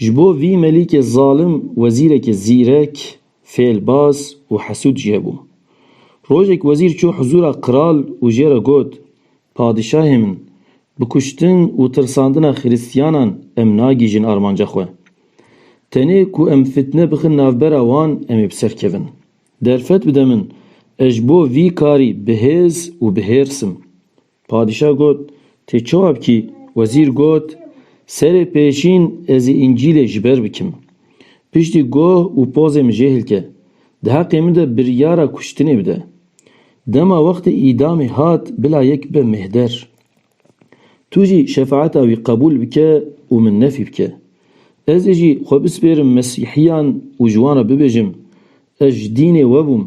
Ji bo vî melîkê zalim wezîrekê zîrek, fêlbaz û hesûd jî hebû. Rojek wezîr çû hizûra kral û jê re got, Padîşahê min, bi kuştin û tirsandina xirîstiyanan em nagîjin armanca xwe. Tenê ku em fitne bixin navbera wan em ê bi ser kevin. Derfet bide min, ez ji bo vî karî bi hêz û bi hêrs im. Padîşah got, Tê çawa bikî? Wezîr got, Serê pêşîn ez ê Încîlê ji ber bikim. Piştî goh û pozê min jê hilke. Di heqê min de biryara kuştinê bide. Dema wextê îdamê hat bila yek bibe mêhder. Tu jî şefaeta wî qebûl bike û min nefî bike. Ez ê jî xwe bispêrim mesîhiyan û ji wan re bibêjim, Ez ji dînê we bûm,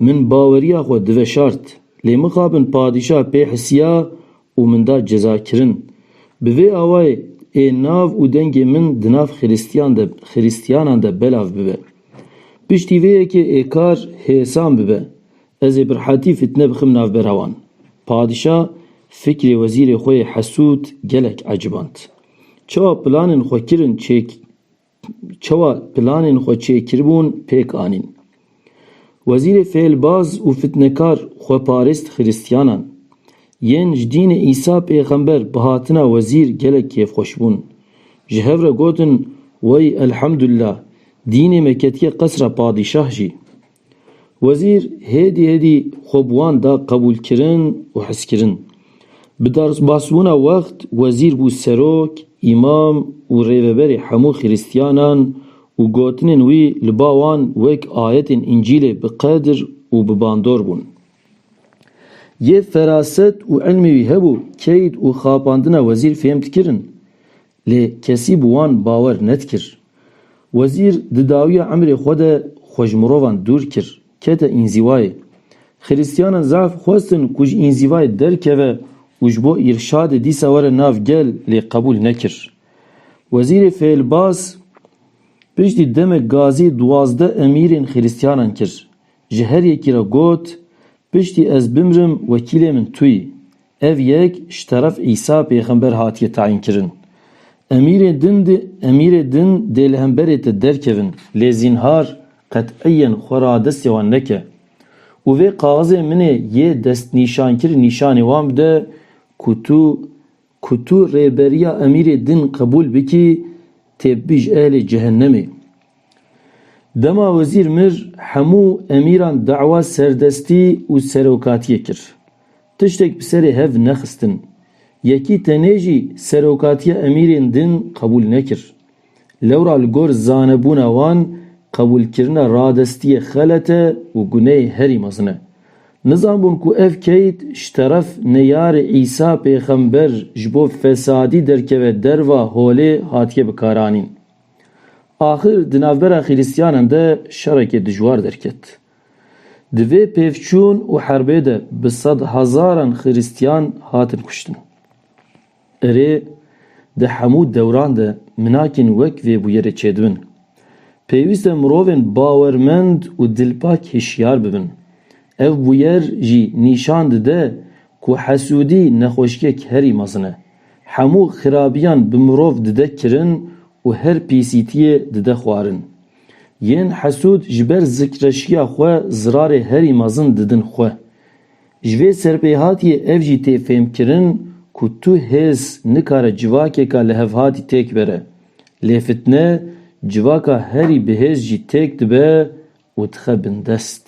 min baweriya xwe diveşart, lê mixabin padîşah pê hisiya û min da cezakirin. Bi vê awayê ê nav û dengê min di nav xirîstiyan de xirîstiyanan de belav bibe. Piştî vê yekê ê kar hêsan bibe, ez ê birhetî fîtne bixim navbera wan. Padîşah fikrê wezîrê xwe yê hesûd gelek eciband. Çawa planên xwe kirin çêk çawa planên xwe çêkiribûn pêk anîn. Wezîrê fêlbaz û fitnekar xweparêst xirîstiyanan yên ji dînê Îsa pêxember bi hatina wezîr gelek kêfxweş bûn. Ji hev re gotin, Wey elhemdullah, dînê me ketiye qesra padîşah jî. Wezîr hêdî hêdî xwe bi wan da qebûlkirin û hizkirin. Bi derbasbûna wext wezîr bû serok, îmam û rêveberê hemû xirîstiyanan û gotinên wî li ba wan wek ayetên Încîlê bi qedir û bi bandor bûn. Yê feraset û îlmê wî hebû keyd û xapandina wezîr fêhm dikirin. Lê kesî bi wan bawer nedikir. Wezîr di dawiya emrê xwe de xwe ji mirovan dûr kir, kete înzîvayê. Xirîstiyanan zaf xwestin ku ji înzîvayê derkeve û ji bo îrşadê dîsa were nav gel lê qebûl nekir. Wezîrê Fêlbaz piştî demek gazî duwazdeh emîrên xirîstiyanan kir. Ji her yekî re got, Piştî ez bimrim wekîlê min tu yî. Ev yek ji teref Îsa pêxember hatiye tayînkirin. Emîrê din emîrê din dê li hemberê te derkevin, lê zînhar qeteyen xwe radestê wan neke û vê kaxizê min ê yê destnîşankirî nîşanê wan bide ku tu Ku tu rêberiya emîrê din qebûl bikî têbibîj ehlê cehennemê. Dema wezîr mir hemû emîran dawa serdestî û serokatiyê kir. Tiştek bi serê hev nexistin. Yekî tenê jî serokatiya emîrên din qebûl nekir. Lewra li gor zanebûna wan qebûlkirina radestiyê xelet e û guneyê herî mezin e. Nizanbûn ku ev keyt ji teref neyarê Îsa pêxember ji bo fesadî derkeve derva holê hatiye bikaranîn. Axir di navbera xîrîstyanan de şerekê dijwar derket. Di vê pêvçûn û herbê de bi sed hezaran xîrîstyan hatin kuştin. Erê, di hemû dewran de minakên wek vê bûyerê çêdibin. Pêwîst e mirovên bawermend û dilpak hişyar bibin. Ev bûyer jî nîşan dide ku hesûdî nexweşiyek herî mezin e. Hemû xirabiyan bi mirov dide kirin û her pîsîtiyê dide xwarin. Yên hesûd ji ber zikreşiya xwe zirarê herî mezin didin xwe. Ji vê serpêhatiyê ev jî tê fêmkirin ku tu hêz nikare civakêka lihevhatî têk bere. Lê fitne civaka herî bihêz jî têk dibe û dixe bindest.